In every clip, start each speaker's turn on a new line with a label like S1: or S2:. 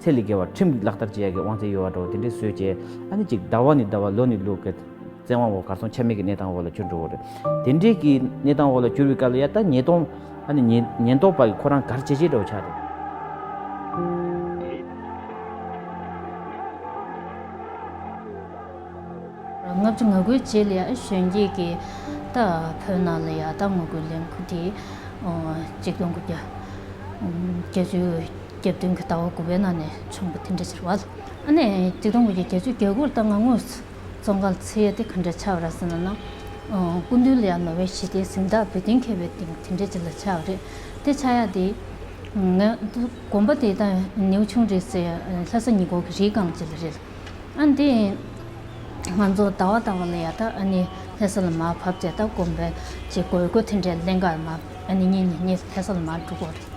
S1: ཚད་ལས་བརྒལ་བ་ཁྲིམས་ཀྱིས་ལག་བསྟར་བྱེད་ཡ་གི་དབང་ཚད་ཡོད་བ་འགྲོ་བ་དེ་འདྲའི་བཟོས་བྱས་ཨ་ནི་ཅིག་ཟླ་བ་ནི་ཟླ་བ་ལོ་ནི་ལོ་གི། བཙན་དབང་འོག་གར་སོང་ཆ་མེད་ཀྱི་གནས་སྟངས་འོག་ལ་གྱུར་འགྲོ་བ་རེད། དེ་འདྲའི་གི་གནས་སྟངས་འོག་ལ་གྱུར་བའི་སྐབས་ལ་ཡ་ད་ཉེས་རྡུང་ཨ་ནི་ཉེན་རྟོག་པ་གི་ཁོ་རང་གར་བྱེད་བྱེད་འདྲ་བོ་ཆགས་འདུག།
S2: ལྔ་བཅུ་ང་དགུའི་རྗེས་ལ་ཡང་གཞོན་སྐྱེས་ཀྱི་ད་བོད་ནང་ལ་ཡ་ད་ངོ་རྒོལ་ལས་འགུལ་དེ་ཅིག་སྟོང་དགུ་བརྒྱ་བརྒྱ་བཅུ། སྐྱབས་དོན་གྱི་ལྟ་བ་དགུ་པའི་ནང་ནས་བྱུང་བ་དེ་འདྲ་ཕྱིར་བ། ཨ་ནེ། སྤྱི་བསྡོམས་ཀྱི་རྒྱལ་གཅེས་རྒྱལ་སྒོར་ལྟ་ང་དངོས་སུ་ཙོང་ཁ་ལ་འཚེ་ཡས་དེ་ག་འདྲ་ཆགས་ར་ཟེར་ན་ན། སྐུ་མདུན་ལ་ཡང་ནོ་བའི་ཞི་བདེའི་གཟེངས་རྟགས་འབུལ་གཏན་འཁེལ་བའི་སྟེང་དེ་འདྲ་ཅིག་ལ་ཆགས་པ་རེད། དེ་ཆགས་ཡག་དེ། ང། དགོན་པ་དེ་དང་ནེའུ་ཆུང་རེད་ཟེར་ཡང་ལྷ་ས་ཉི་གོག་གི་རིའི་སྒང་ཅིག་ལ་རེད་ལ། ཨ་འདི། ང་ཚོ་ལྟ་བ་ལྟ་བ་ལ་ཡག་ད་ཨ་ནེ་ལྷ་ས་ལ་མ་བབས་ཚེ་ད་དགོན་པའི་ཆེད་དགོས་དགོས་དེ་འདྲའི་ལན་འགའ་ཨ་ནེ་གཉིས་ནས་ངས་ལྷ་ས་ལ་མ་འགྲོ་དགོས་རེད།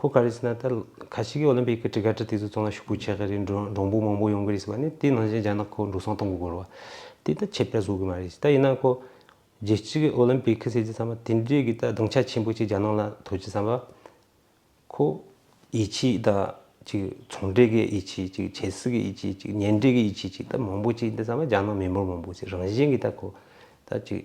S3: ཁོ་ག་རེད་ཟེར་ན་ད་ག་ཞིག་གི་ཨོ་ལིམ་པིག་གི་གྲི་ཁ་གྲི་དེ་ཚོ་ཚང་ལ་ཞུགས་པོ་བྱེད་གི་རེད་འགྲོ་འབྲོང་བུ་མང་པོ་ཡོང་གི་རེད་ཟེར་བ་ནི་དེའི་ནང་བཞིན་རྒྱ་ནག་ཁོ་འགྲོ་སོང་གཏོང་གི་དགོས་རོ། དེ་ད་ཁྱད་པར་བཟོ་གི་མ་རེད་ད་ཡིན་ན་ཁོ་རྒྱལ་སྤྱི་གི་ཨོ་ལིམ་པིག་གི་ཟེར་རྒྱུ་ཚང་མ་དེ་འདྲས་ཀྱི་ད་སྡང་ཆ་ཆེན་པོ་གཅིག་རྒྱ་ནག་ལ་དོར་རྒྱུ་བསམ་པ་ཁོ་ཡིད་ཆེས་ད་ཅིག་ཚོང་འབྲེལ་གི་ཡིད་ཆེས་གཅིག་ཆེ་སྲིད་གི་ཡིད་ཆེས་གཅིག་ཉེ་འབྲེལ་གྱི་ཡིད་ཆེས་གཅིག་ད་མང་པོ་གཅིག་འདི་ཚང་མ་རྒྱ་ནག་མི་འབོར་མང་པོ་ཚོའི་རང་བཞིན་གྱི་ད་ཁོ་ད་ཅིག་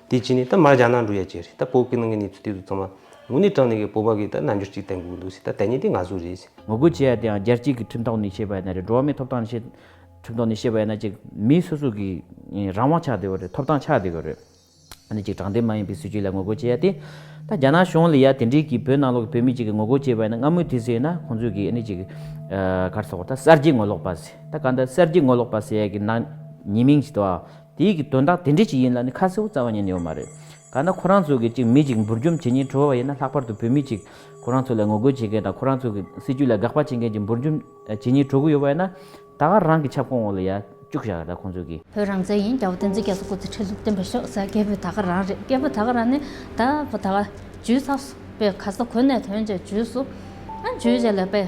S3: དེ་བྱས་ནས་ད་མར་ཇག་ནང་འགྲོ་ཡ་ཇེ་རེད་ད་བོད་སྐད་ནང་གི་གནས་ཚུལ་དེ་ཚོ་ཚང་མ་ངུ་ནས་དྲང་ནས་གི་བོད་པ་གི་ད་རྣལ་འབྱོར་ཅིག་བསྟན་དགོས་འདུག་སེ་ད་དེ་གཉིས་དེ་ང་ཟུག་རེད། ངོ་རྒོལ་བྱེད་ཡ་དེའང་རྒྱལ་
S1: སྤྱིའི་གི་ཁྲིམས་ཐོག་ནས་བྱེད་པ་ཡ་ན་རེད་འགྲོ་བ་མིའི་ཐོབ་ཐང་ཆེད་ཁྲིམས་ཐོག་ནས་བྱེད་པ་ཡ་ན་ཅིག་མི་སོ་སོ་གི་རང་དབང་ཆགས་བསྡད་པ་རེད་ཐོབ་ཐང་ཆགས་བསྡད་པ་རེད། ཨ་ནི་ཅིག་དྲང་བདེན་མ་ཡིན་པའི་སྲིད་བྱུས་ལ་ངོ་རྒོལ་བྱེད་ཡ་དེ། ད་རྒྱ་ནག་གཞུང་ལ་ཡ་དེ་འདྲའི་གི་བོད་ནང་ལོག་གི་བོད་མི་ཅིག་གི་ངོ་རྒོལ་བྱེད་པ་ཡ་ན་སྔ་མོའི་དུས་སུ་ཡ་ན་ཁོང་ཚོས་གི་ཨ་ནི་ཅིག་གར་སོང་བ་ད་གསར་བརྗེ་ངོ་ལོག་པ་སེ་ད་ག་ད་གསར་བརྗེ་ངོ་ལོག་པ་སེ་ཡ་གི་ནང་ཉེས་མིང་ཅིག་ཏུའང་དེ་ཡིག་གི་དོན་དག་དེ་འདྲས་ཅིག་ཡིན་ལ་ནི་ཁ་གསལ་བོ་རྩ་བ་ཉིད་ནས་ཡོད་མ་རེད། ག་ན་ཁོ་རང་ཚོ་གིས་ཅིག་མི་ཅིག་འབུར་འཇོམས་བྱེད་ཉེན་ཁྲོ་བ་ཡིན་ན་ལྷག་པར་དུ་བོད་མི་ཅིག་ཁོ་རང་ཚོ་ལ་ངོ་རྒོལ་བྱེད་མཁན་དང་ཁོ་རང་ཚོ་གི་སྲིད་ཇུས་ལ་དགག་པ་བྱེད་མཁན་ཅིག་འབུར་འཇོམས་བྱེད་ཉེན་ཁྲོ་གི་ཡོད་པ་ཡིན་ན། ད་ག་རང་གི་ཁྱབ་ཁོངས་འོག་ལ་ཡ་བཅུག་བཞག་གི་རེད་ཁོང་ཚོ་གིས། བོད་རང་བཙན་ཡིན་རྒྱ་བོད་བསྟན་
S2: འཛིན་རྒྱ་མཚོ་སྐུ་ཚེ་ཁྲི་གཟུགས་བརྟན་པ་ཤོག་ཟེར་རྒྱལ་བོད་ད་ག་རང་རེད་རྒྱལ་བོད་ད་ག་རང་ནི་ད་བོད་ད་ག། ཇུས་ས། པའི་ག་ས་གོ་གནས་དོན་བཅས་ཇུས་སུ། ཨ་ཇུས་བཅས་ལས་པའི།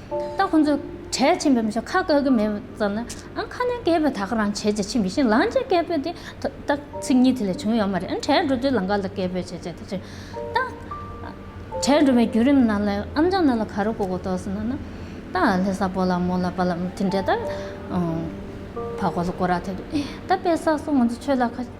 S2: ད་ཁོང་ཚོས་གྲལ་ཕྱིན་པའི་མི་ཚོ་ཁ་བཀག་གི་མེད་ཙམ་ན་ཨང་ཁ་ནས་སྐད་འབོད་ད་ག་རང་བྱེད་ཅེས་ཕྱིན་པའི་ཤིང་ལང་ཅན་སྐད་འབོད་དེ་ད་ཚིག་གཉིས་དེ་ལས་བྱུང་ཡོད་མ་རེད་ཨང་གྲལ་འགྲོ་དུས་ལང་ཀ་ལ་སྐད་འབོད་བྱེད་ཅེས་དེ་བྱེད་ད་གྲལ་འགྲོ་བའི་བརྒྱུད་རིམ་ནང་ལ་ཨམ་ཅང་ནང་ལ་ག་རེ་གོ་གོ་ཐོག་སོང་ན་ད་ལྷས་ས་པོ་ལ་མོ་ལ་པ་ལ་མོ་དེ་འདྲས་ད་ཕ་གོ་ལ་གོ་ར་ཐེབས་ད་དཔེ་ས་སོགས་ང་ཚོ་ཆོས་ལ་ཁ་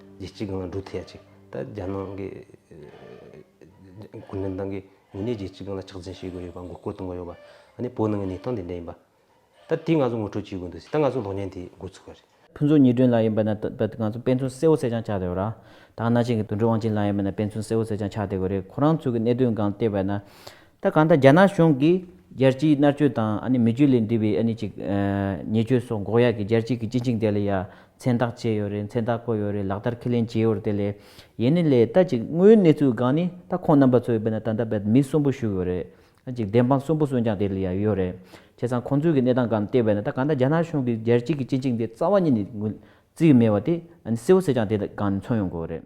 S3: རྗེ་གཅིག་གང་ལ་འགྲོ་ཐལ་ཅིག། ད་རྒྱ་ནག་གི་གུང་ཁྲན་ཏང་གིས་ངོས་ནས་རྗེ་གཅིག་གང་ལ་ཕྱག་འཚལ་ཞུ་དགོས་ཡོད་པ་མགོ་སྐོར་གཏོང་དགོས་ཡོད་པ། ཨ་ནི་བོད་ནང་གི་གནས་སྟངས་དེ་འདྲ་ཡིན་པ། ད་དེ་ང་ཚོ་ངོ་སྤྲོད་བྱེད་དགོས་འདུག་ཟེར་ད་ང་ཚོ་གློག་བརྙན་དེ་འགོ་ཚུགས་པ་རེད། ཕུན་ཚོགས་ཉི་སྒྲོན་ལགས་
S1: ཡིན་པ་ན་ད་ང་ཚོ་དཔེ་མཚོན་གསལ་བོ་གསལ་རྐྱང་ཆགས་བསྡད་ཡོད་ར། ད་ང་ནག་ཆེན་གྱི་དུད་འགྲོ་དབང་ཆེན་ལགས་ཡིན་པ་ན་དཔེ་མཚོན་གསལ་བོ་གསལ་རྐྱང་ཆགས་བསྡད་དགོས་རེད་ཁོ་རང་ཚོ་གི་གནད་དོན་སྒང་བལྟས་པ་ན། ད་གང་ལྟར་རྒྱ་ནག་གཞུང་གིས་རྒྱལ་སྤྱིའི་མནར་གཅོད་དང་མི་རྒྱུད་ལས་འདས་པའི་ཉེས་སྤྱོད་སོགས་འགོག་ཡག་གི་རྒྱལ་སྤྱིའི་གི་སྤྱི་ཆིངས་དེ་ལ་ཡང་མཚན་རྟགས་བཅད་ཡོད་རེད་མཚན་རྟགས་བཀོད་ཡོད་རེད་ལག་བསྟར་ཁས་ལེན་བྱས་ཡོད་རེད་དེ་ལས་ཡིན་ནི་ལས་ད་ཅིག་དངོས་ཡོད་གནས་ཚུལ་གང་ནི་ད་ཁོང་རྣམ་པ་ཚོས་བོད་ན་ད་ལྟ་བོད་མི་གསོན་པོ་བཞུགས་ཡོད་རེད་ད་ཅིག་བདེན་དཔང་གསོན་པོ་གསོན་ཀྱང་དེ་ལ་ཡང་ཡོད་རེད་བྱས་ཙང་ཁོང་ཚོའི་གི་གནས་སྟངས་གང་བལྟས་བས་ན་ད་གང་ལྟར་རྒྱ་ནག་གཞུང་གིས་རྒྱལ་སྤྱིའི་གི་སྤྱི་ཆིངས་དེ་རྩ་བ་ཉིད་ནས་རྩིས་མེད་བ་དེ་ནི་གསལ་བོ་གསལ་ཀྱང་དེ་གང་ནི་མཚོན་ཡོང་དགོས་རེད།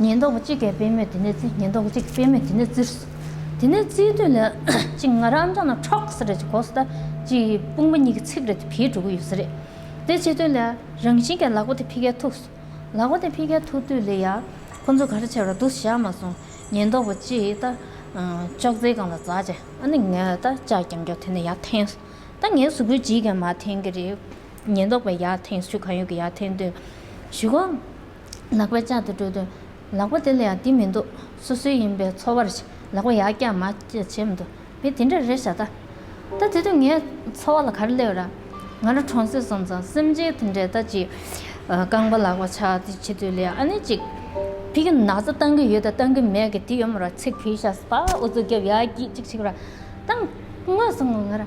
S2: ཉེན་རྟོག་པ་གཅིག་གིས་དཔེ་མེད་དེ་ནས་བརྩིས་ཉེན་རྟོག་པ་གཅིག་གིས་དཔེ་མེད་དེ་ནས་བརྩིས། དེ་ནས་བརྩིས་དུས་ལ་གཅིག་ང་རང་ཨམ་ཅག་ནང་ཁྲོག་ཟེར་རེད་ཅེས་གོག་ཟེར་ལྟ་གཅིག་དཔུང་པ་གཉིས་ཀྱི་ཚིགས་རེ་དེ་བིས་འགྲོ་གི་ཡོད་ཟེར་རེད། དེ་བྱེད་དུས་ལ་རང་བཞིན་གྱིས་ལག་པ་དེ་ཕི་ཁའི་ཐུགས་སོ། ལག་པ་དེ་ཕི་ཁའི་ཐུགས་དུས་ལ་ཡང་ཁོ་ཚོ་ག་རེ་བྱས་པ་ར་འདུག་བཞག་མ་སོང་ཉེན་རྟོག་པ་གཅིག་ད་ཅོག་ཙེའི་སྒང་ལ་འཛག་བྱས་ཨ་ནི་ངས་ད་ཅག་རྐྱང་རྐྱང་དེ་ནས་ཡར་འཐེན་སོང་ད་ངའི་གཟུགས་པོའི་འཇིག་གི་མ་འཐེན་གི་རེད། ཉེན་རྟོག་པས་ཡར་འཐེན་ཞུ་གང་ཡོད་ཀྱི་ཡར་འཐེན་དུས་ཞུ་གང། ལག་པས་ལྕགས་དེ་དཀྲོལ་དུས། ལག་པ་དེ་ལ་ཡང་དེ་མི་འདུག་སོ་སོའི་ཡིན་པས་འཚོ་བར་བྱེད། ལག་པ་ཡར་བཀྱག་མར་བཀྱག་བྱེད་མི་འདུག་བས་དེ་འདྲ་རེད་བྱ། ད་ལྟ་དེ་དུས་ངའི་འཚོ་བ་ལ་ག་རེ་སླེབས་ར། ང་རང་གྲོང་གསེབ་སོང་ཙང་སེམས་ཅན་དེ་འདྲས་ད་ཅིག་རྐང་པ་ལག་པ་ཕྱག་དེ་བྱེད་དུས་ལས་ཨ་ནེ་ཅིག། ཕི་གི་ན་ཚ་བཏང་གི་ཡོད་ད་བཏང་གི་མེད་གི་དེ་ཡོད་མ་ར་ཚིག་ཕུད་ཤ་སྤ་འུ་ཚོ་རྒྱབ་ཡ་གྱིས་ཅིག་བྱེད་ར། ད་ངོས་སུ་ང་རང།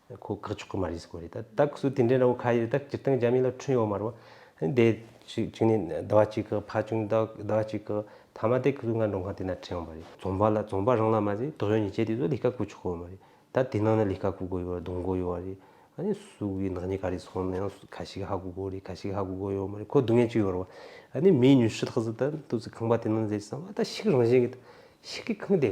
S3: ཁོ་བཀག་ཆོག་གི་མ་རེད་ཟེར་གོ་རེད་ད་ད་སུ་དེ་འདྲའི་འདྲ་བོ་ཁ་ཡོད་ད་སྤྱིར་བཏང་རྒྱ་མི་ལ་འཁྲུན་ཡོད་མ་རེད་བ་ཧིན་དེ་ཅིག་ཅིག་ནས་ཟླ་བ་གཅིག་གི་ཕ་ཆུང་ཟླ་ཟླ་བ་གཅིག་གི་ཐ་མ་དེ་སུ་ང་འགྲོ་མཁན་དེ་ན་འཁྲེན་ཡོང་བ་རེད་རྫོང་པ་ལ་རྫོང་པ་རང་ལ་མ་ཟད་དོག་ཡོད་ཉེས་ཆད་དེ་ཚོ་ལས་ཀ་གོ་ཆོག་གི་ཡོད་མ་རེད་ད་དེ་ནང་ན་ལས་ཀ་གོ་དགོས་ཡོད་རེད་སྡོང་གོ་ཡོད་རེད་ཨ་ནི་སུ་གི་ནག་ཉེས་ག་རེ་སོང་ནའང་ཁ་ཞིག་ཧ་གོ་དགོས་རེད་ཁ་ཞིག་ཧ་གོ་དགོས་ཡོད་མ་རེད་ཁོ་སྡུག་བསྔལ་ཅིག་ཡོད་རེད་བ་ཨ་ནི་མིའི་ཉུལ་ཤུལ་དག་ཟིག་ད་ཏུ་ཟིག་ཁང་པ་དེ་ནང་ཟེར་ཟིག་ཨ་མ་ད་ཤིག་རང་བཞིན་གྱི་ད་ཤིག་གི་ཁང་དེ་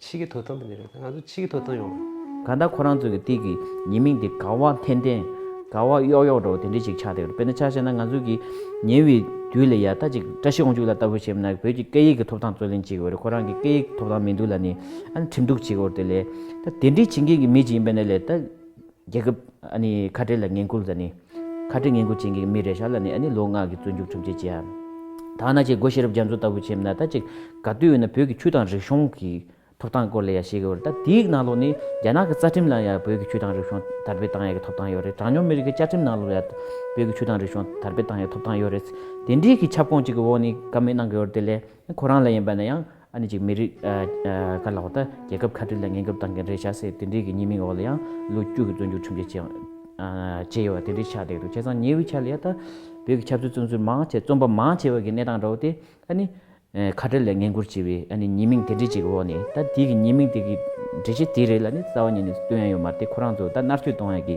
S3: ཕྱིས་ཀྱི་དོ་དམ་པ་ནས་རེད་ད་ང་ཚོ་ཕྱིས་ཀྱི་དོ་དམ་ཡོང་བ། ག་ད་ཁོ་རང་ཚོ་གི་སྟེགས་
S1: ཀྱི་ཉེས་མིང་དེ་ག་བ་འཐེན་འཐེན། ག་བ་གཡོག་གཡོག་འདྲ་བོ་དེ་འདྲས་ཅིག་ཆགས་བསྡད་ཡོད་རེད་དཔེར་ན་ཆ་ཤས་ན་ང་ཚོ་གི་ཉེ་བའི་དུས་ལ་ཡ་ད་ཅིག་བཀྲ་ཤིས་དབང་ཕྱུག་ལ་ལྟ་བུ་བྱས་མིན་ན་བོད་ཀྱི་སྐད་ཡིག་གི་ཐོབ་ཐང་རྩོད་ལེན་བྱེད་གི་འོད་རེད་ཁོ་རང་གི་སྐད་ཡིག་ཐོབ་ཐང་མི་འདུག་ལ་ནི་ཨ་ནི་ཁྲིམས་གཏུག་བྱེད་གི་འོད་དེ་ལས། ད་དེ་འདྲས་བྱེད་མཁན་གི་མི་ཅིག་ཡིན་པ་ནས་ལས་ད། རྒྱལ་ཁབ་ཁ་བྲལ་ལ་ངན་སྐུལ་དང་ནི། ཁ་བྲལ་ངན་སྐུལ་བྱེད་མཁན་གྱི་མི་རེ་ཤ་ལ་ནི་ལོ་ལྔ་གི་བཙོན་འཇུག་ཁྲིམས་ཆད་བཅད། ཐ་ན་ཆེས་སྒོ་ཤེས་རབ་རྒྱ་མཚོ་ལྟ་བུ་ཆེམས་ན་ད་ཅིག་ག་དུས་ཡོད་ན་བོད་ཀྱི་ཆུ་དང་རིག་གཞུང་གི་ཐོབ་ཐང་སྐོར་ལ་ཡང་བཤད་གི་ཡོད་རེད་ད་དེའི་ནང་ལོགས་ནི་རྒྱ་ནག་གི་རྩ་ཁྲིམས་ལ་ཡང་བོད་ཀྱི་ཆུ་དང་རིག་གཞུང་དར་སྤེལ་བཏང་ཡ་གི་ཐོབ་ཐང་ཡོད་རེད་གྲངས་ཉུང་མི་རིགས་ཀྱི་བཅའ་ཁྲིམས་ནང་ལོགས་ལ་ཡང་བོད་ཀྱི་ཆུ་དང་རིག་གཞུང་དར་སྤེལ་བཏང་ཡ་གི་ཐོབ་ཐང་ཡོད་རེད་དེ་འདྲིའི་གི་ཁྱབ་ཁོངས་གཅིག་གི་འོག་ནི་ཀ་མེད་གནང་གི་ཡོད་རེད་དེ་ལས་ཁོ་རང་ལ་ཡིན་པ་ན་ཡང། ཨ་ནི་གཅིག་མི་རིགས། ཀ་ལག་ད་རྒྱལ་ཁབ་ཁ་བྲལ་ལ་ངན་ཁབ་བཏང་མཁན་རེད་བྱ་སྲིད་དེ་འདྲའི་གི་ཉེས་མིང་འོག་ལ་ཡང་ལོ་རྒྱུས་ཀྱི་བཙོན་འཇུག་ཁྲིམས་ཆད་བཅད་ཡོད་པ་དེ་འདྲའི་ཆགས་བསྡད་འདུག་བྱས་ཙང་ཉེ་བའི་ཆར་ལ་ཡང་ད་བོད་ཀྱི་ཆབ་སྲིད་བཙོན་ཟུར་མང་ཆེ་བཙོན་པ་མང་ཆེ་བ་གི་གནས་སྟངས་འདྲ་བོ་དེ་ཨ་ནི་ཁ་བྲལ་ལ་ངན་སྐུར་བྱས་པའི་ཨ་ནི་ཉེས་མིང་དེ་འདྲའི་གཅིག་གི་འོག་ནས་ད་དེའི་གི་ཉེས་མིང་དེ་གི་འགྲེལ་བཤད་དེ་རེད་ལ་ནི་རྩ་བ་ཉིད་ནས་སྟོན་ཡ་ཡོད་མ་རེད་དེ་ཁོ་རང་ཚོ་ད་མནར་གཅོད་གཏོང་ཡ་གི་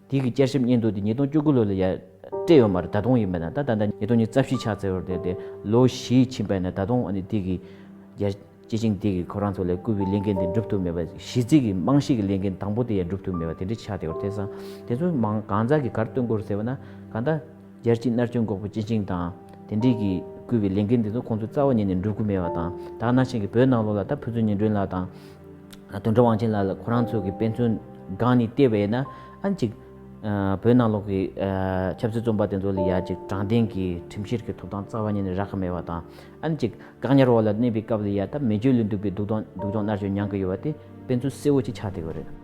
S1: དུས་ཀྱི་བསྐྱར་ཞིབ་སྙན་ཐོ་དེ་ཉིས་སྟོང་བཅུ་དགུ་ལོ་ལ་ཡང་སྤྲད་ཡོད་མ་རེད་ད་དུང་ཡིན་པས་ན་ད་ད་ལྟ་ཉིས་སྟོང་ཉིས་རྩ་བཞི་ཕྱག་འཚལ་བར་དེད་དེ་ལོ་བཞི་ཕྱིན་པས་ན་ད་དུང་ཨ་ནི་དུས་ཀྱི་རྒྱ་ཆེ་ཞིང་དུས་ཀྱི་ཁོ་རང་ཚོ་ལས་བསྐུལ་བའི་ལས་འགན་དེ་འགྲུབ་ཐུབ་མེད་པ་གཞི་རྩའི་གི་རྨང་གཞི་གི་ལས་འགན་དང་པོ་དེ་ཡང་འགྲུབ་ཐུབ་མེད་པ་དེ་འདྲའི་ཆགས་བསྡད་པར་ཐལ། སང་དེ་ཚོ་མང་གང་ཟག་གི་གར་བཏོན་སྐོར་ཟེར་བ་ན་གང་ལྟ། རྒྱལ་སྤྱིའི་མནར་གཅོད་འགོག་པའི་སྤྱི་ཆིངས་དང་དེ་འབྲེལ་གྱི་བསྐུལ་བའི་ལས་འགན་དེ་ཚོ་ཁོང་ཚོའི་རྩ་བ་ཉིད་ནས་འགྲུབ་དགོས་མེད་པ་དང་དག་སྣང་ཅན་གྱི་བོད་ནང་ལོགས་ལ་ད་ཕུན་ཚོགས་ཉི་སྒྲོན་ལགས་དང། དོན་གྲུབ་དབང་ཆེན་ལགས་ལ་ཁོ་རང་ཚོ་གི་དཔེ་མཚོན་སྒང་ནས་བལྟས་པས་ན་ཨང་ཅིག། བོད་ནང་ལོག་གི་ཆབ་སྲིད་རྩོམ་པ་དེ་ཚོ་ལ་ཡ་ཅིག་དྲང་བདེན་གྱི་ཁྲིམས་བཤེར་གྱི་ཐོབ་ཐང་རྩ་བ་ཉིད་ནས་རག་གི་མེད་པ་དང། ཨང་ཅིག་བཀག་ཉར་འོག་ལ་གནས་པའི་སྐབས་ལ་ཡ་ད་མེ་ཆོས་ལུས་འདུག་པའི་སྡུག་སྡོང་སྡུག་སྦྱོང་མནར་གཅོད་མྱང་གི་ཡོད་པ་དེ་དཔེ་མཚོན་གསལ་བོ་ཅིག་ཆགས་བསྡད་ཡོད་རེད།